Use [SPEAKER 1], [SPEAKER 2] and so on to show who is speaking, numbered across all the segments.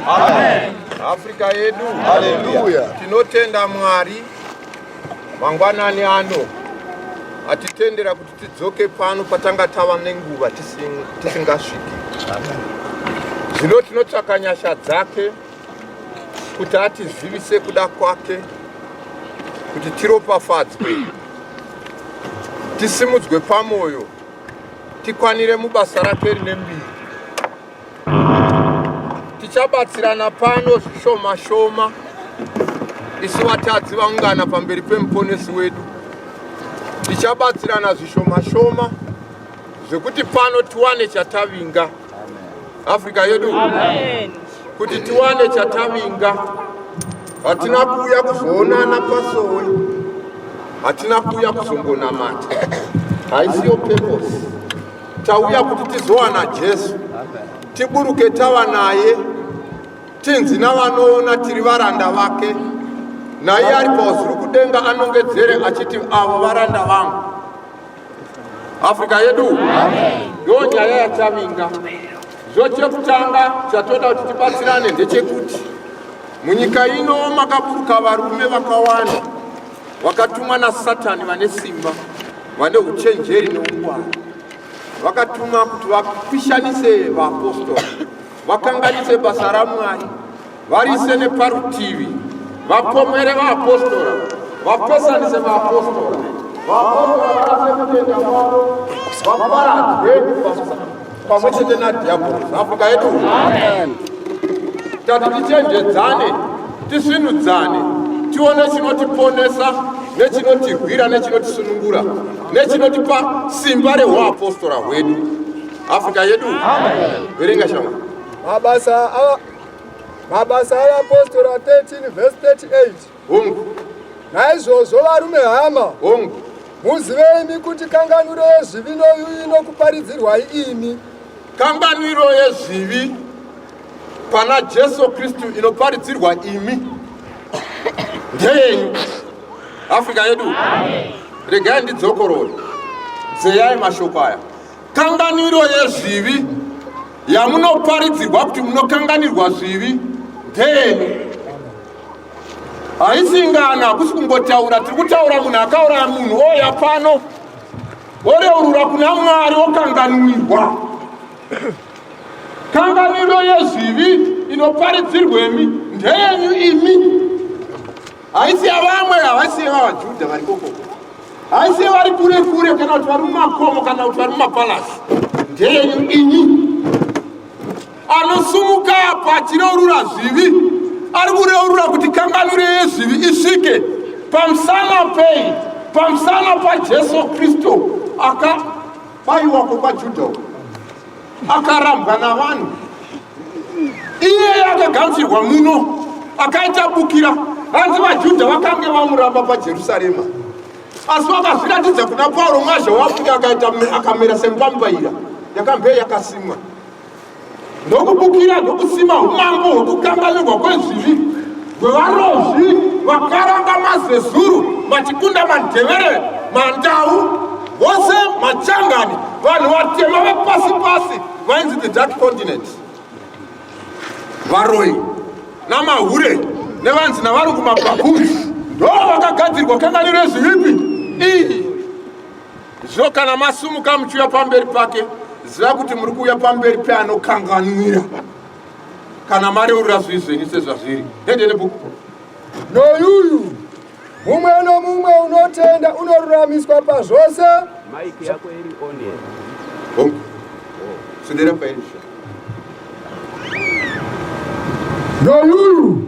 [SPEAKER 1] Amen. Africa yedu. Hallelujah.
[SPEAKER 2] Tinotenda
[SPEAKER 1] Mwari mangwanani ano atitendera kuti tidzoke pano patanga tava nenguva tisingasviki. Zvino tinotsvaka nyasha dzake kuti atizivise kuda kwake kuti tiropafadzwe tisimudzwe pamoyo tikwanire mubasa rake rine mbiri tichabatsirana pano zvishoma shoma isu vatadzi vaungana pamberi pemuponesi wedu tichabatsirana zvishoma shoma zvekuti pano tiwane chatavinga afrika yedu
[SPEAKER 3] kuti tiwane
[SPEAKER 1] chatavinga hatina kuuya kuzoonana pasowe hatina kuuya kuzongonamata haisiyo purpose Tauya kuti tizowana Jesu, tiburuke tava naye, tinzi navanoona tiri varanda vake. Naiye ari pauzuru kudenga anongedzere achiti, avo varanda vangu. Afrika yedu ndo nyaya yachavinga. Zvo chekutanga chatoda kuti tibatsirane ndechekuti munyika ino makaburuka varume vakawanda vakatumwa nasatani vane simba vane uchenjeri neungwara vakatuma kuti vapishanise vaapostori vakanganise basa ramwari varise neparutivi vapomwere vaapostora vapesanise vaapostora vaapostora varase kutenda kwavo vaparadzwe pamwe chete nadhiabhorosi afrika yedu tati tichenjedzane tisvinudzane tione chinotiponesa nechinotirwira nechinotisunungura nechinotipa simba reuapostora hwedu afrika yedu verenga
[SPEAKER 3] shama
[SPEAKER 1] mabasa
[SPEAKER 2] mabasa eapostora 13 vhesi 38 Hongu.
[SPEAKER 1] Naizvozvo
[SPEAKER 2] varume hama. Hongu.
[SPEAKER 1] Muzive imi
[SPEAKER 2] kuti kanganwiro yezvivi noyuyu inokuparidzirwai imi. Kanganwiro
[SPEAKER 1] yezvivi pana Jesu Kristu inoparidzirwa imi. Ndeyenyu. Africa yedu. Regai ndidzokorore. Dzeyai mashoko aya. Kanganwiro yezvivi yamunoparidzirwa kuti munokanganirwa zvivi ndeyenyu. haisingana hakusi kungotaura tiri kutaura munhu akauraya munhu oya pano oreurura kuna mwari okanganwirwa kanganwiro yezvivi inoparidzirwemi ndeyenyu imi haisi yavamwe havasi yevavajudha vari kokoko haisi yevari kure kure kana kuti vari mumakomo kana kuti vari mumapalasi ndeyenyu inyi anosumuka apo achireurura zvivi ari kureurura kuti kanganwiro yezvivi isvike pamusana pei pamusana pajesu kristu akabayiwa kwekwajudha akarambwa navanhu iyeye akaganzirwa muno akaita bukira hanzi vajudha vakange vamuramba pajerusarema asi vakazviratidza kuna pauro mwazha wafuti akaita akamera semupambaira yakambe yakasimwa ndokubukira ndokusima umambo hwokukanganirwa kwezvivi hwevarozvi vakaranga mazezuru vachikunda mandevere mandau vose machangani vanhu vatema vepasi pasi vainzi the dark continent varoyi namahure nevanzi navari kumabhabhuri ndo vakagadzirwa kanganiro ezvivipi iyi Zvino kana masumuka muchiuya pamberi pake, ziva kuti muri kuuya pamberi peanokanganwira kana mareurura zvivi zvenyu sezvazviri. Hende nebhuku. Noyuyu
[SPEAKER 2] mumwe nomumwe unotenda unoruramiswa pazvose. Maiki yako
[SPEAKER 3] iri on here.
[SPEAKER 1] Hongu. Sendera pairi.
[SPEAKER 2] Noyuyu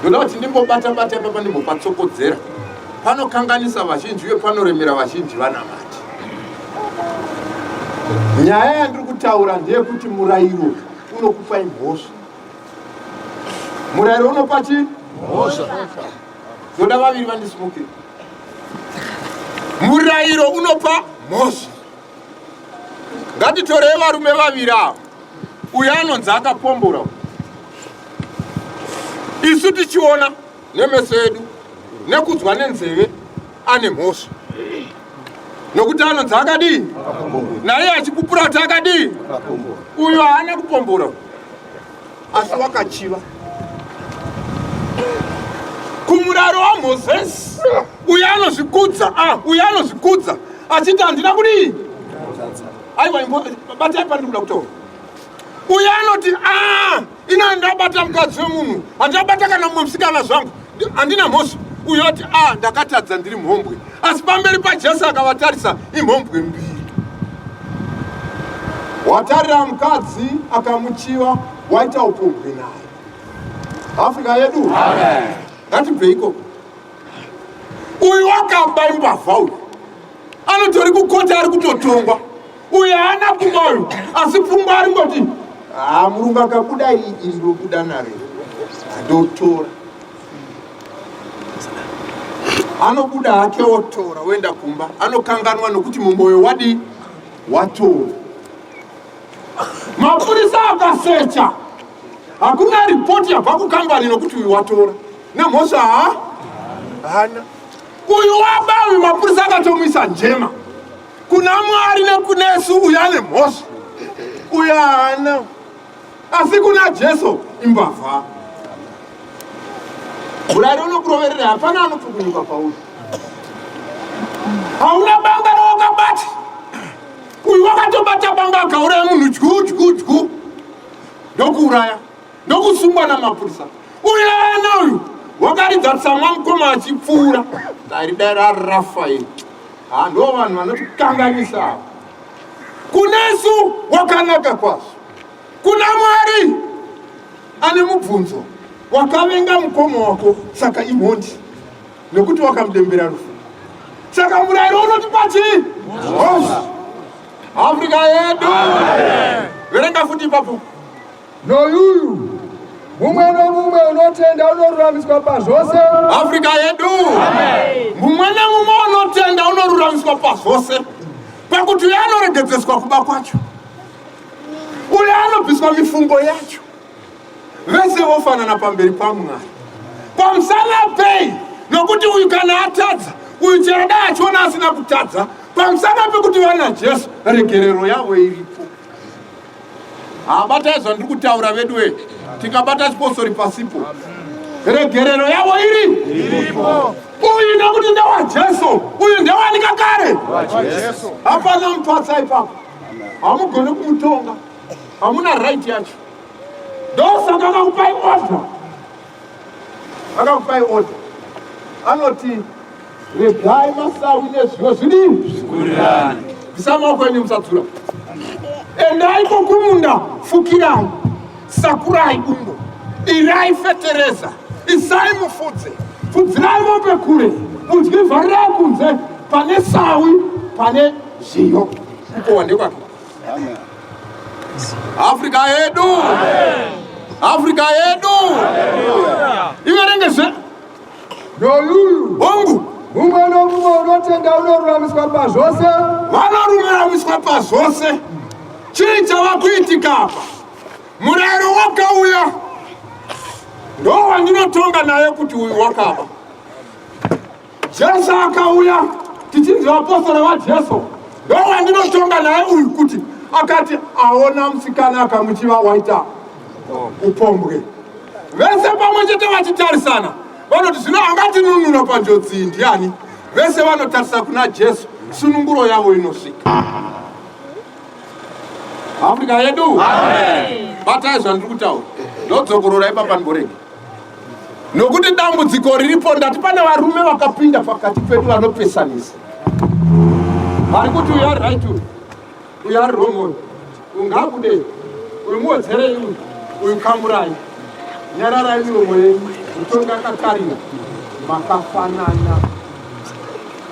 [SPEAKER 1] ndoda kuti ndimbobata bata ipapa ndimbopatsokodzera panokanganisa vazhinji uye panoremera vazhinji vanamati nyaya yandiri kutaura ndeyekuti murayiro unokupai mhosva murayiro unopa chii mhosva ndoda vaviri vandisumukira murayiro unopa mhosva ngatitorei varume vaviri ava uyo anonzi akapombora isu tichiona nemeso edu nekudzwa nenzeve ane mhosva nokuti anonzi akadii naiye achipupura kuti akadii uyo haana kupombora asi wakachiva kumuraro wamozesi uyo anozvikudza ah, uyo anozvikudza achiti handina kudii aiwa batai pandiri kuda kutaura uye anoti a ah, ina handabata mukadzi wemunhu handabata kana mumwe musikana zvangu handina mhosva uyo ati a ah, ndakatadza ndiri mhombwe asi pamberi pajesu akavatarisa imhombwe mbiri watarira mukadzi akamuchiva waita upombwe naye afrika yedu ngatibve ikoko uyu wakaba imbavha uyu anotori kukota ari kutotongwa uye haana pfungwa uyu asi pfungwa ari ngoti haa ah, murungu akabuda iri iri robuda naro ndotora anobuda hake otora oenda kumba anokanganwa nokuti mumwoyo wadii watora mapurisa akasecha hakuna ripoti yabva kukambani nokuti uyu watora nemhosva ha hana Uyu waba uyu mapurisa akatomwisa njema kuna mwari nekunesu uyu ane mhosva uyu haana asi kuna jesu imbavha murari unokuroverera hapana anopukunyuka pauri hauna banga rawakabata uyu wakatobata banga akauraya munhu dyu dyu dyu ndokuuraya ndokusungwa namapurisa uyo ana uyu wakaridza tsamwa mukoma achipfuura daridai rarafail ha ndo vanhu vanotikanganisa ava kunesu wakanaka kwazvo kuna mwari ane mubvunzo wakavenga mukoma wako saka imhondi nekuti wakamudembera rufu saka murayiro unoti pachii afrika yedu verenga futi ipapo Noyuyu
[SPEAKER 2] mumwe nomumwe unotenda unoruramiswa pazvose. Afrika yedu
[SPEAKER 1] mumwe nomumwe unotenda unoruramiswa pazvose, pakuti uye anoregedzeswa kuba kwacho, uye anobviswa mifungo yacho, vese vofanana pamberi paMwari. Pamusana pei? Nokuti uyu kana atadza, uyu chero dai achiona asina kutadza, pamusana pekuti vana Jesu regerero yavo iripo. habatai ah, zvandiri kutaura veduwe tikabata chiposori pasipo regerero yavo iri uyu nekuti ndewajesu uyu ndewanika kare hapana mupatsa ipapo hamugone kumutonga hamuna right yacho ndosaka kakupai order Akakupai order. Anoti regai masawi nezviyo zvidini? Zvikurirani. Bvisai maoko enyu musadzura. Endai kokumunda fukirai. Sakurai bungo. Irai fetereza. Isai mufudze. Fudzirai mombe kure. Mudyi vharirai kunze pane sawi pane zviyo. Uko wande kwake. Amen. Africa yedu. Amen. Africa yedu. Hallelujah. Iverenge zve. Noluyu.
[SPEAKER 2] Hongu.
[SPEAKER 1] Mumwe nomumwe
[SPEAKER 2] unotenda unoruramiswa pazvose. Vanoruramiswa
[SPEAKER 1] pazvose. Chii chava kuitika apa? Murayiro wakauya. Ndowandinotonga naye kuti uyu wakaba. Jesu akauya tichinzi vapostora vaJesu ndowandinoshonga naye uyu kuti akati aona musikana akamuchiva waita upombwe vese pamwe chete vachitarisana vanoti zvino angatinunura panjodzi iyi ndiani vese vanotarisa kuna jesu sununguro yavo inosvika afrika yedu batai zvandiri kutaura ndodzokororai papanboregi nokuti dambudziko riripo ndati pane varume vakapinda pakati pedu vanopesanisa vari kuti uyu ari right uyu uyu ari wrong uyu uyu ngaabude uyu muwedzerei uyu uyu kamurai nyararai miromo yenyu mutongi akatarira makafanana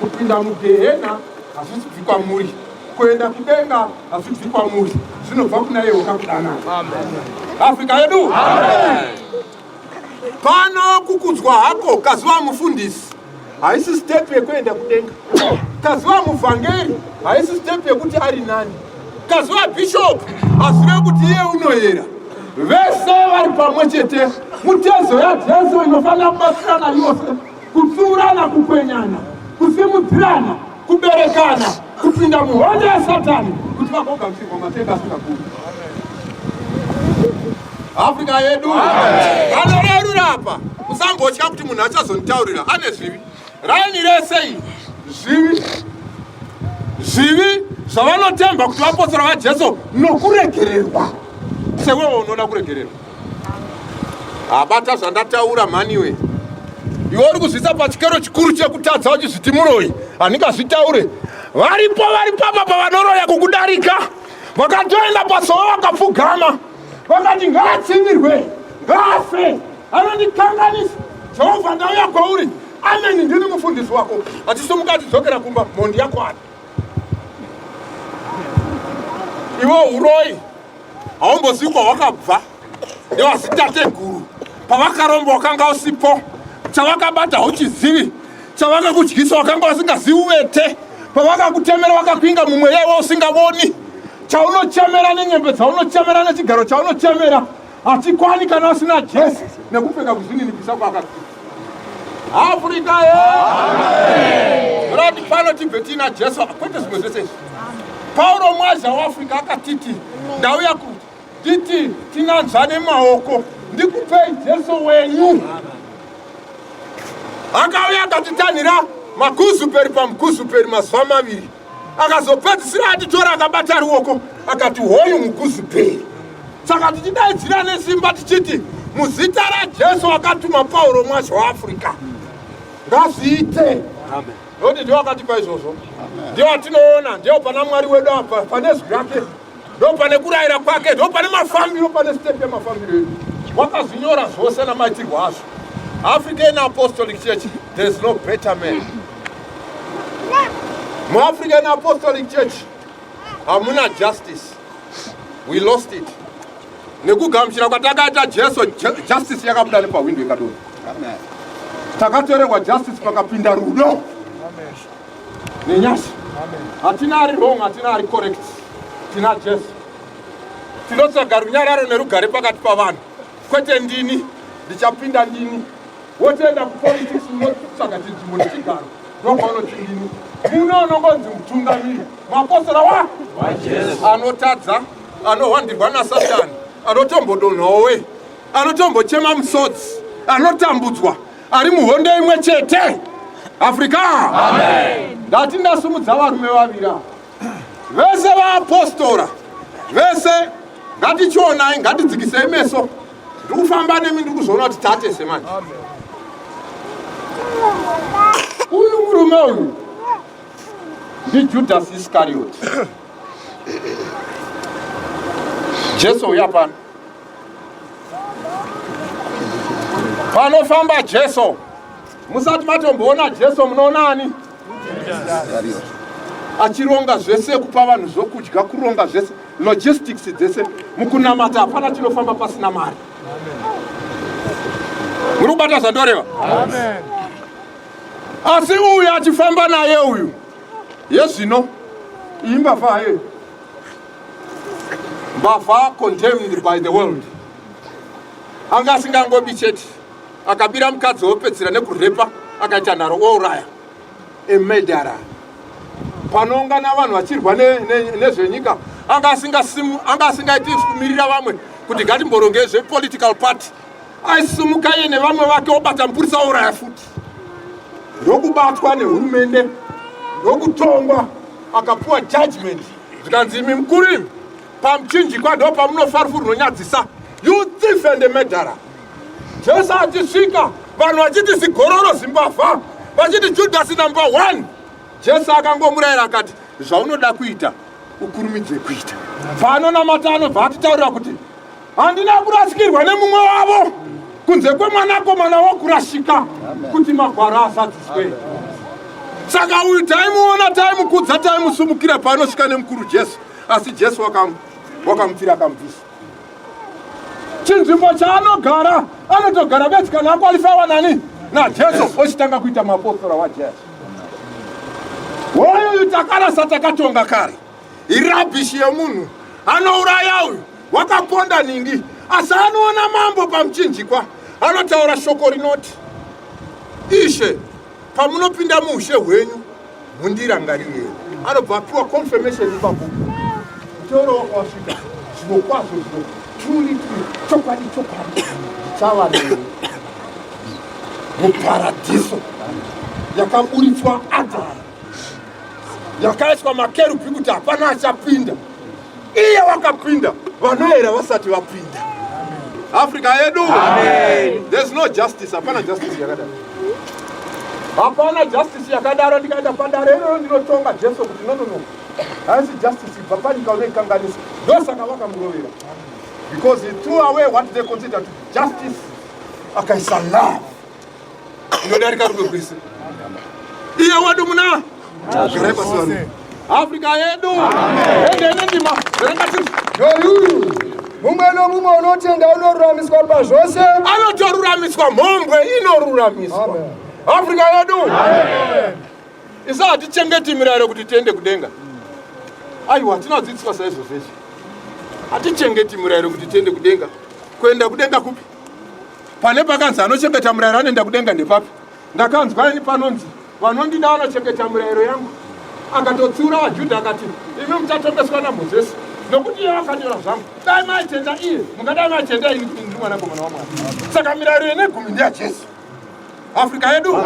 [SPEAKER 1] kupinda mugehena hazvisi bvi kwamuri kuenda kudenga hazvibvi kwamuri zvinobva kuna iye wakakudanai afrika yedu pano kukudzwa hako kaziva mufundisi haisi step yekuenda kudenga kaziva muvhangeri haisi step yekuti ari nani kaziva bhishopu hazive kuti iye unoyera vese vari pamwe chete mutezo yajesu inofanira kubatsirana yose kutsiurana kukwenyana kusimudzirana kuberekana kupinda muhondo yasatani kuti vagogamuchirwa matenda asingagumi afrika yedu vanorerura apa musambotya kuti munhu achazonitaurira ane zvivi raini rese iyi zvivi zvivi zvavanotemba kuti vapostora vajesu nokuregererwa sewewo unoda kuregererwa abata zvandataura mhaniwe iwe uri kuzvisa pachikero chikuru chekutadza uchizviti muroyi handingazvitaure varipo vari pamba pavanoroya kukudarika vakatoenda pasowa vakapfugama vakati ngaatsivirwe ngaafe anondikanganisa jehovha ndauya kwauri ameni ndini mufundisi wako achisumuka achidzokera kumba mhondi yako ani iwe uroyi haumbozikwa wakabva nevazitateguru pavakaromba wakanga usipo chavakabata hauchizivi chavakakudyisa wakanga wasingazivi uvete pavakakutemera wakakwinga mumwe yewe usingavoni chaunochemera nenyembe dzaunochemera nechigaro chaunochemera hachikwani kana usina jesi nekupfeka kuzvininipisa kwakakuita Africa rati pano tibve tiina Jesu kwete zvimwe zvese izvi. Pauro mwaza weAfrica akatiti ndauya kuti titi tinanzvane maoko ndikupei Jesu wenyu. Akauya akatitanhira makuzuperi pamukuzuperi mazuva maviri. akazopedzisira atitora akabata ruoko akati hoyu mukuzi peri saka tichidaidzira nesimba tichiti muzita rajesu wakatuma pauro mwasha waafrica ngazviite noti ndiwo akatipa izvozvo ndiwo atinoona ndiwo pana mwari wedu apa pane zwi rake ndopane kurayira kwake ndopane mafambiro pane step yemafambiro edu wakazvinyora zvose namaitirwo azvo african apostolic church there is no better man muafrican apostolic church hamuna justice we lost it nekugamuchira kwatakaita jesu justice yakabuda nepahwindo ikadoni takatorerwa justice pakapinda rudo nenyasha hatina ari wrong hatina ari correct tina jesu tinotsvaga runyararo nerugare pakati pavanhu kwete ndini ndichapinda ndini wotoenda kupolitics unotsvaga chinzvimbo nechigaro ndopaunoti ndini muno unongonzi mutungamiri mapostora wa anotadza anohwandirwa nasatani anotombodonhowe anotombochema musodzi anotambudzwa ari muhondo imwe chete afrika ndati ndasumudza varume vavira vese vaapostora vese ngatichionai ngatidzikisei meso ndiri kufamba nemi ndiri kuzoona kuti tatese manje uyu murume uyu ndijudhasi iskarioti jesu uya pano Panofamba Jesu, musati matomboona Jesu, munoona ani? Achironga zvese, kupa vanhu zvokudya, kuronga zvese, logistics dzese. Mukunamata hapana chinofamba pasina mari. Muri kubata zvandoreva? Asi uyu achifamba naye uyu, yezvino imba faye mbavha condemned by the world anga asingangobi chete akabira mukadzi wopedzera nekurepa akaita nharo ouraya emedara panoungana vanhu vachirwa nezvenyika anga asingaiti kumirira vamwe kuti ngatimborongei zvepolitical party aisumuka iye nevamwe vake obata mupurisa ouraya futi ndokubatwa nehurumende ndokutongwa akapuwa judgment zvikanzi imi mukuru imi pamuchinjikwa ndo pamunofarufu runonyadzisa you thief and medara jesu achisvika vanhu vachiti zigororo zimbavha vachiti judhasi number one jesu akangomurayira akati zvaunoda kuita ukurumidze kuita paanonamata anobva atitaurira kuti Handina kurasikirwa nemumwe wavo kunze kwemwanakomana wokurashika kuti magwaro azadziswe. Saka uyu taimuona, taimukudza, taimusumukira paanosvika nemukuru Jesu, asi Jesu wakamupfira akamubvisa chinzvimbo chaanogara anotogara bedzi kana akwalifawa nani najesu ochitanga kuita mapostora wajesu woyuyu takarasa takatonga kare irabishi yemunhu anouraya uyu wakaponda nhingi asi anoona mambo pamuchinjikwa anotaura shoko rinoti ishe pamunopinda muushe hwenyu mundirangarirei anobva apiwa confirmation ipapo mutoro wakawasvika zvino kwazvo zvino truly true chokwadi chokwadi ndichava neni muparadiso yakaburitswa adhara yakaiswa makerubi kuti hapana achapinda iye wakapinda vanoera vasati vapinda africa yedu there's no justice hapana justice yakadaro hapana justice yakadaro ndikaenda padare iroro ndinotonga jesu kuti nonono haisi justice ibva panyika unoikanganisa ndosaka vakamurovera because he threw away what they consider to justice akaisa love inodarika rudo rwese iye wedu muna garai pasi vanhu afrika yedu endenendima rangati yoyuyu
[SPEAKER 2] mumwe nomumwe unotenda unoruramiswa pazvose anotoruramiswa
[SPEAKER 1] mhombwe inoruramiswa Amen. afrika yedu isa hatichengeti mirayiro kuti tiende kudenga aiwa hatinadzidziswa saizvozvezvi hatichengeti mirayiro kuti tiende kudenga kuenda kudenga kupi pane pakanzi anochengeta murayiro anoenda kudenga ndepapi ndakanzwa ini panonzi vanondida vanochengeta murayiro yangu akatotsiura vajudha akati imi muchatongweswa namozesi nokuti iye vakanyora zvangu dai maitenda iye mungadai maitenda ini kuti ndiri mwanakomana wamwari saka mirayiro yene gumi ndeyajesu afrika yedu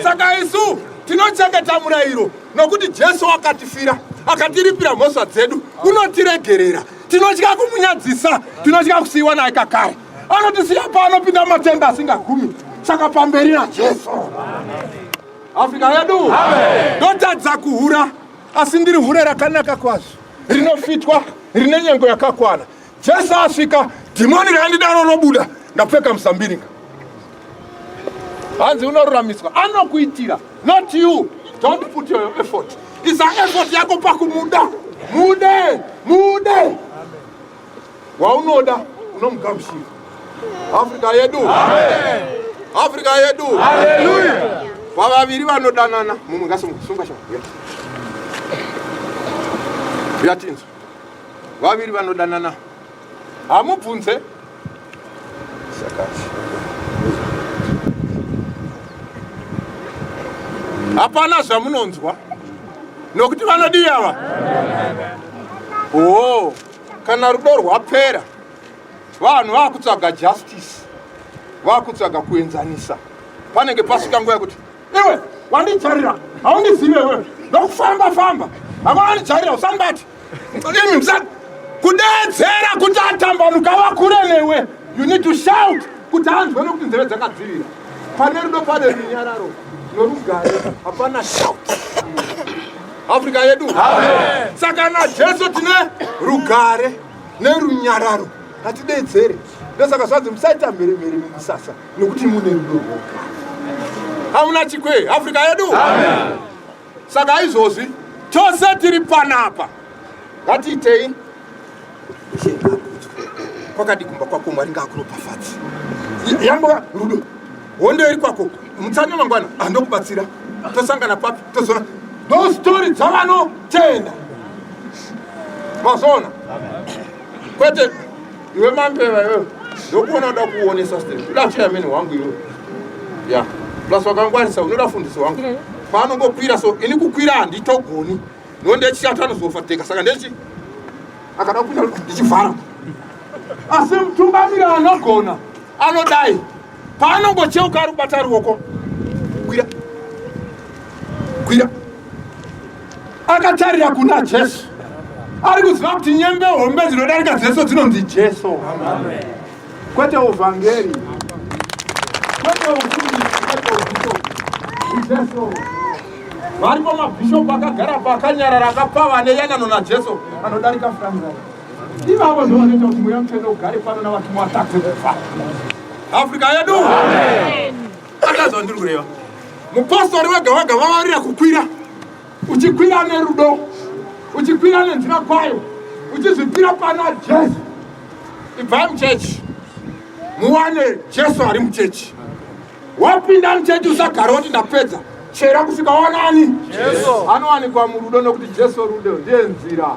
[SPEAKER 1] saka isu tinochengeta murayiro nokuti jesu akatifira akatiripira mhosva dzedu unotiregerera tinotya kumunyadzisa tinotya kusiyiwa naye kakare anotisiya paanopinda matenda asingagumi saka pamberi najesu afrika yedu ndotadza kuhura asi ndiri hure rakanaka kwazvo rinofitwa rine nyengo yakakwana jesu asvika dhimoni raindidaro robuda ndapfeka musambiringa hanzi unoruramiswa anokuitira not you don't put your effort isa effort yako pakumuda mude mude waunoda unomugamushira africa yedu africa yedu vavaviri vanodanana mumwe ngasunga sha yatinzwa vaviri vanodanana hamubvunze hapana zvamunonzwa nokuti vanodii ava oo kana rudo rwapera vanhu vakutsvaga justice vakutsvaga kuenzanisa panenge pasvika nguva yekuti iwe wandijarira haundizive iwe nokufamba famba havawanijarira usandibati imi msa kudeedzera kuti atambanuka vakure newe you need to shout kuti anzwe nokuti nzeve dzakadzirira pane rudo pane runyararo norugare hapana shout afrika yedu saka najesu tine rugare nerunyararo hatideedzere ndosaka zvanzi musaita mhere mhere mumusasa nokuti mune rudo rwoga hamuna chikwe afrika yedu Amen. saka izvozvi tose tiri panapa ngatiitei kwakadi kumba kwako mwari ngaakuropafadzi yambova rudo hondo iri kwako mutsanya mangwana andokubatsira tosangana papi tozona no story dzavanotenda mazona kwete iwe mambeva iwe ndokuona uda kuonesa state uda cheyameni wangu iwe ya plus wakangwarisa unoda fundisi wangu mm. paanongokwira so ini kukwira handitogoni no ndechishatu anozofateka saka ndechi akada kupinda ndichivhara asi mutungamiri anogona anodai paanongocheuka ari kubata ruoko kwira kwira akatarira kuna jesu ari kuziva kuti nyembe hombe dzinodarika dzeso dzinonzi jesu kwete uvhangeri kwete uiijesu varipo mabhishopu akagara paakanyarara akapfava neyanano najesu anodarika furanga ivavo ndovanoita kuti mweya mutsvene ugare pano navatumwa vatadze kubva afrika yedu Amen. Akazwa ndiri kureva. Mupostori wega wega vavarira kukwira. Uchikwira nerudo. Uchikwira nenzira kwayo. Uchizvipira pana Jesu. Ibvai muchechi. Muwane Jesu ari muchechi. Wapinda muchechi usagara woti ndapedza. Chera kusvika wanani? Jesu. Anowanikwa murudo nokuti Jesu rudo ndiye nzira.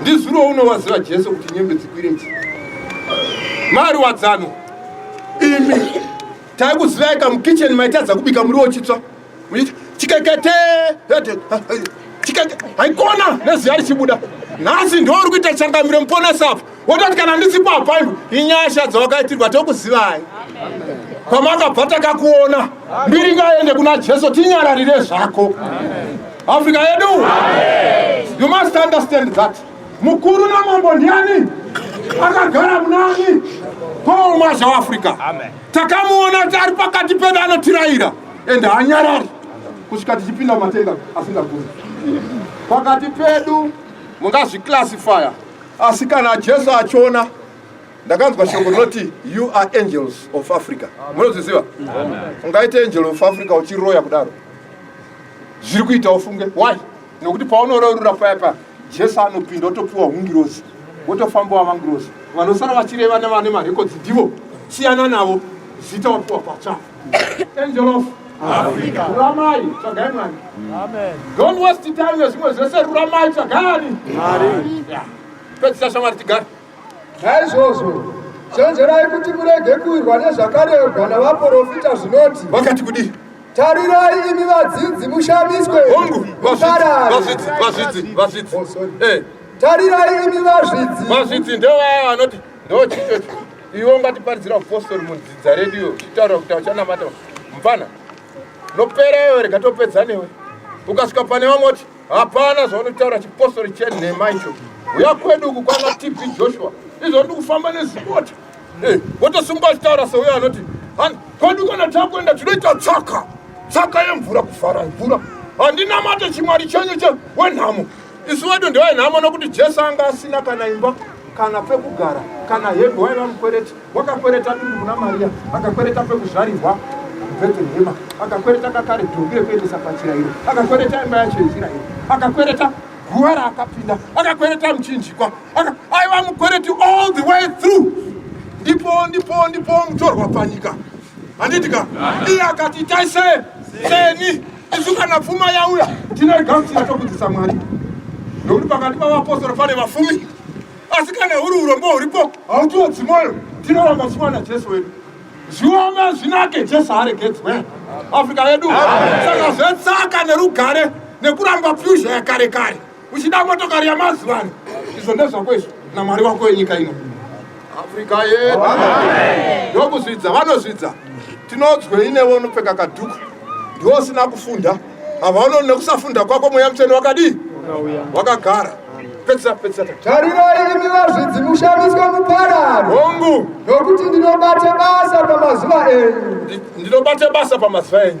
[SPEAKER 1] ndizuro unowaziva jesu kuti nyembe dzikwire chi mari wadzano imi taikuzivai ka mukitchen maitadza kubika muri wochitsva muchiti chikekete haikona neziya richibuda nhasi ndouri kuita changamiro muponesa apa wototi kana ndisipo apa iwe inyasha dzawakaitirwa tokuzivai kwamakabva takakuona mbiri ngaende kuna jesu tinyararire zvako africa yedu you must understand that mukuru namambo ndiani akagara munani paul mazha weafrica takamuona kuti ari pakati pedu anotiraira ende hanyarari kusvika tichipinda matenga asingagoni pakati pedu mungazviclassifya Asi kana Jesu achiona ndakanzwa shoko rinoti you are angels of Africa. Munozviziva? Ungaite angel of Africa uchiroya kudaro. Zviri kuita ufunge. Why? Nokuti paunororora paya paya Jesu anopinda otopiwa hungirozi. Wotofamba wamangirozi. Vanosara vachireva nevane marekodzi ndivo. Siyana navo. Zita wapiwa patsva. Angel of Africa. Ruramai, tsvagai Mwari. Amen. Don't waste time nezvimwe zvese, ruramai, tsvagani. Mwari. Yeah. Pedzisa shamwari tigare. Naizvozvo
[SPEAKER 2] chenjerai kuti murege kuwirwa nezvakarehwa navaprofita zvinoti. Vakati kudii?
[SPEAKER 1] Tarirai imi
[SPEAKER 2] vadzidzi mushamiswe. Hongu, vazvidzi, vazvidzi, vazvidzi.
[SPEAKER 1] Oh, sorry. Eh. Tarirai
[SPEAKER 2] imi vazvidzi. Vazvidzi ndevaya
[SPEAKER 1] vanoti ndo chichocho iwe ungatiparidzira upostori mudzidza redu iyo uchitaura kuti auchanamata mfana nopera iwe rega topedza newe ukasvika pane vamwe kuti hapana zvaunotaura chipostori chenhema icho uya kwedu uku kwana tb joshua izvo ndi kufamba nezipoti eh, wotosungwa achitaura seuyo anoti kwedu kana takuenda tinoita tsaka tsaka yemvura kuvhara mvura handinamate chimwari chenyu che wenhamo isu vedu ndevainhamo nokuti jesu anga asina kana imba kana pekugara kana hembe waiva mukwereti wakakwereta dundu kuna mariya akakwereta pekuzvarirwa bhetelehema akakwereta kakare dhumbi rekuendesa pachirayiro akakwereta imba yacho yezirayiro akakwereta guva raakapinda akakwereta muchinjikwa aiva mukwereti all the way through ndipo ndipo ndipo mutorwa panyika handitika iye akati itai se seni Isu kana pfuma yauya tinoigamuchira tokudzisa Mwari, nokuti pakati pavapostora pane vafumi, asi kana huri urombo huripo hautiodzi mwoyo. Tinoramba pfuma naJesu wedu, zviome zvinake, Jesu aregedzwe Afrika yedu. Saka zvetsaka nerugare nekuramba pfuzha yakare kare. uchida motokari yamazuva ano izvo ndezvako izvo namwari wako wenyika ino afrika yedu yokuzvidza vanozvidza tinonzwei newe unopfeka kadhuku ndiwo usina kufunda havaononi nekusafunda kwako mweya mutsvene wakadii wakagara pedzisa pedzisa tarirai
[SPEAKER 2] imi vazvidzi mushamiswe mupararo hongu nokuti
[SPEAKER 1] ndinobate
[SPEAKER 2] basa pamazuva enyu ndinobate basa
[SPEAKER 1] pamazuva enyu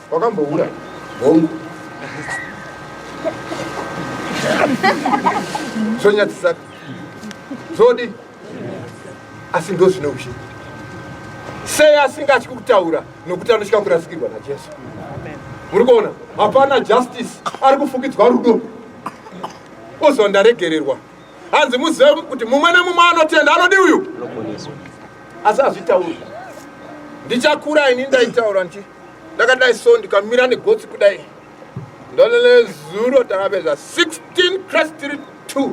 [SPEAKER 1] Wakambohura hongu zvonyadzisaka zvodi asi ndo zvine ushe sei asingatyi kutaura nokuti anotya kurasikirwa najesu muri kuona hapana justice ari kufukidzwa rudo oziva ndaregererwa hanzi muzive kuti mumwe nemumwe anotenda anodi uyu asi azvitauri ndichakura ini ndaitaura nti ndakadai so ndikamira negotsi kudai ndolele zuro takapedza 16 crestri 2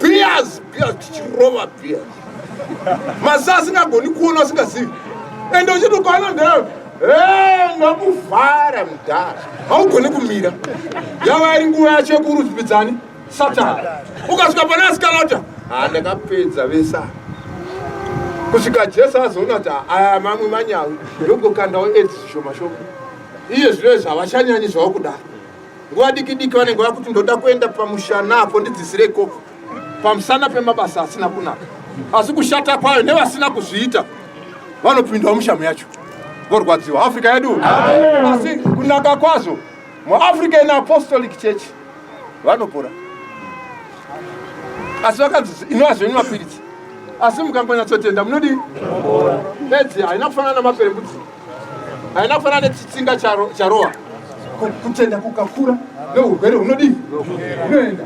[SPEAKER 1] beers beers tichirova beers mazi asingagoni kuona asingazivi ende uchitokaona ndee ndakuvhara mudhara haugoni kumira yava iri nguva yacho yekurudzwidzani Satan. Ukasvika pana asikalota. Ah ndakapedza vesa. Kusvika Jesu azoona kuti aya mamwe manyawi ndogokandawo edzi zvishoma shoma. Iye zviro izvi havachanyanyi zvawakudaro. Nguva diki diki vanenge vakuti ndoda kuenda pamushana apo ndidzisire ikoko. Pamusana pemabasa asina kunaka. Asi kushata kwayo nevasina kuzviita vanopindwa mushamu yacho. Vorwadziwa Africa yedu. Asi kunaka kwazo muAfrican Apostolic Church vanopora asi vakanzi inova zvenyu mapiritsi asi mukangonyatsotenda munodii edzi haina kufanana namaperembudzi haina kufanana nechitsinga charowa kutenda kukakura neurwere hunodii unoenda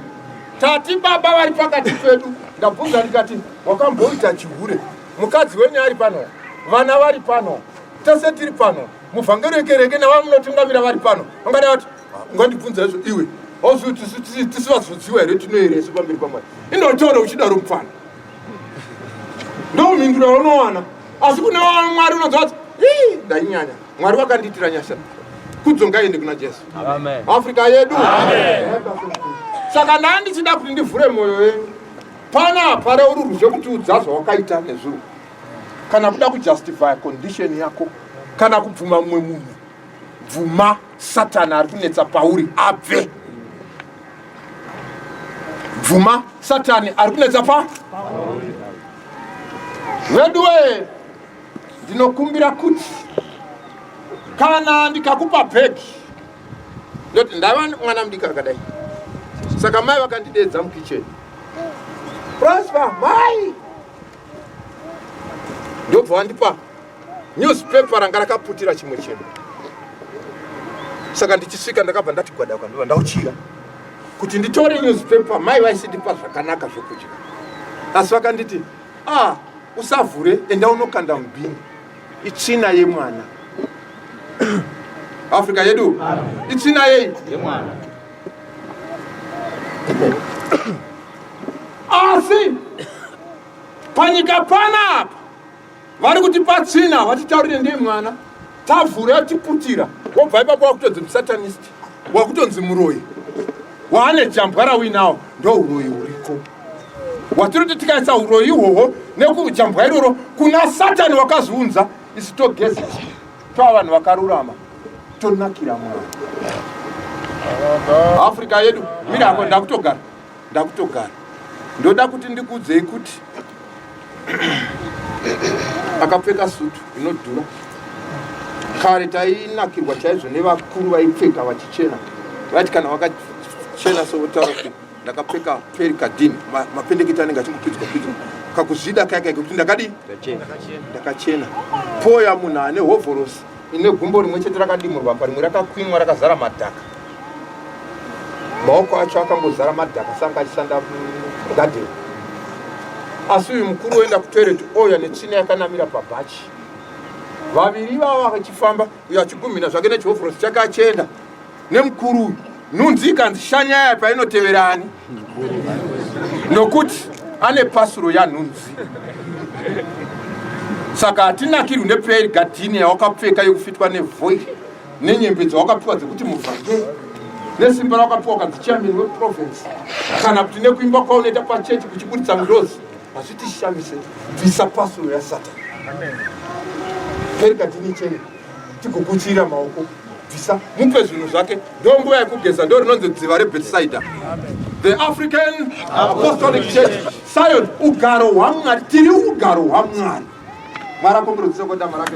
[SPEAKER 1] tati baba vari pakati pedu ndabvunza ndikati wakamboita chihure mukadzi wenyu ari pano vana vari pano tese tiri pano muvhangeri wekereke navamunotungamira vari pano vangadai vati ungandibvunza izvo iwe auzivi kuti tisi vazodziwa here tinoere isu pamberi pamwari indotaura uchidaro mupfana ndomhindura unowana asi kune mwari unonzwa kuti ii ndainyanya mwari vakandiitira nyasha kudzongaende kuna jesu africa
[SPEAKER 3] yedu
[SPEAKER 1] saka ndaa ndichida kuti ndivhure mwoyo yenyu pana pare uri ruzve kuti udza zvawakaita nezuro kana kuda kujustifya condition yako kana kubvuma mumwe munhu bvuma Satani ari kunetsa pauri abve. Bvuma Satani ari kunetsa pa veduwe, ndinokumbira kuti kana ndikakupa bhegi ndoti ndava mwana mudiki akadai, saka mai vakandidedza mukicheni Prosper, mai ndobva wandipa Newspaper ranga rakaputira chimwe chinhu. Saka ndichisvika ndakabva ndati gwada kwandiva ndauchira kuti nditore newspaper mai vaisindipa zvakanaka zvekudya asi vakanditi ah usavhure enda unokanda mubhini itsvina yemwana africa yedu itsvina yei yemwana asi panyika panapa vari kuti patsina vatitaurire ndiye mwana tavhura yatiputira wobva ipapo wakutonzi musatanist wakutonzi muroyi waane jambwa rawinawo ndo uroyi uriko watinoti tikaisa uroyi ihwohwo nekujambwa iroro kuna satani wakazviunza isu togeza tova vanhu vakarurama tonakira mwana africa yedu mira ako ndakutogara ndakutogara ndoda kuti ndikuudzei kuti akapfeka sutu inodhura kare tainakirwa chaizvo nevakuru vaipfeka vachichena vati kana vakachena sovotaura kuti ndakapfeka peri kadhini mapendeketi anenge achingopidzwa pidzwa kakuzvida kaya kaiko kuti ndakadii ndakachena poya munhu ane hovhorosi ine gumbo rimwe chete rakadimurwa apa rimwe rakakwinwa rakazara madhaka maoko acho akangozara madhaka sanga achishanda mugadheni asi uyu mukuru oenda kutoireti ouya netsvina yakanamira pabhachi vaviri vava vachifamba uyo achigumhina zvake nechihovhorosi chake achienda nemukuru uyu nhunzi ikanzi shanya yaya painotevera ani nokuti ane pasuro yanhunzi saka hatinakirwi nepeya iri gadhini yawakapfeka yekufitwa nevhoi nenyembe dzawakapiwa dzekuti muvhake nesimba rawakapiwa ukanzi chairman weprovince kana kuti nekuimba kwaunoita pachechi kuchiburitsa ngirozi hazvitishamise bvisa pasuro yasatani peri gadhini ichene tikukuchira maoko bvisa mupe zvinhu zvake ndo nguva yekugeza ndo rinonzi dziva rebethsaida the african apostolic church sion ugaro hwamwari tiri ugaro hwamwari mwari akomberodzisa kodama rake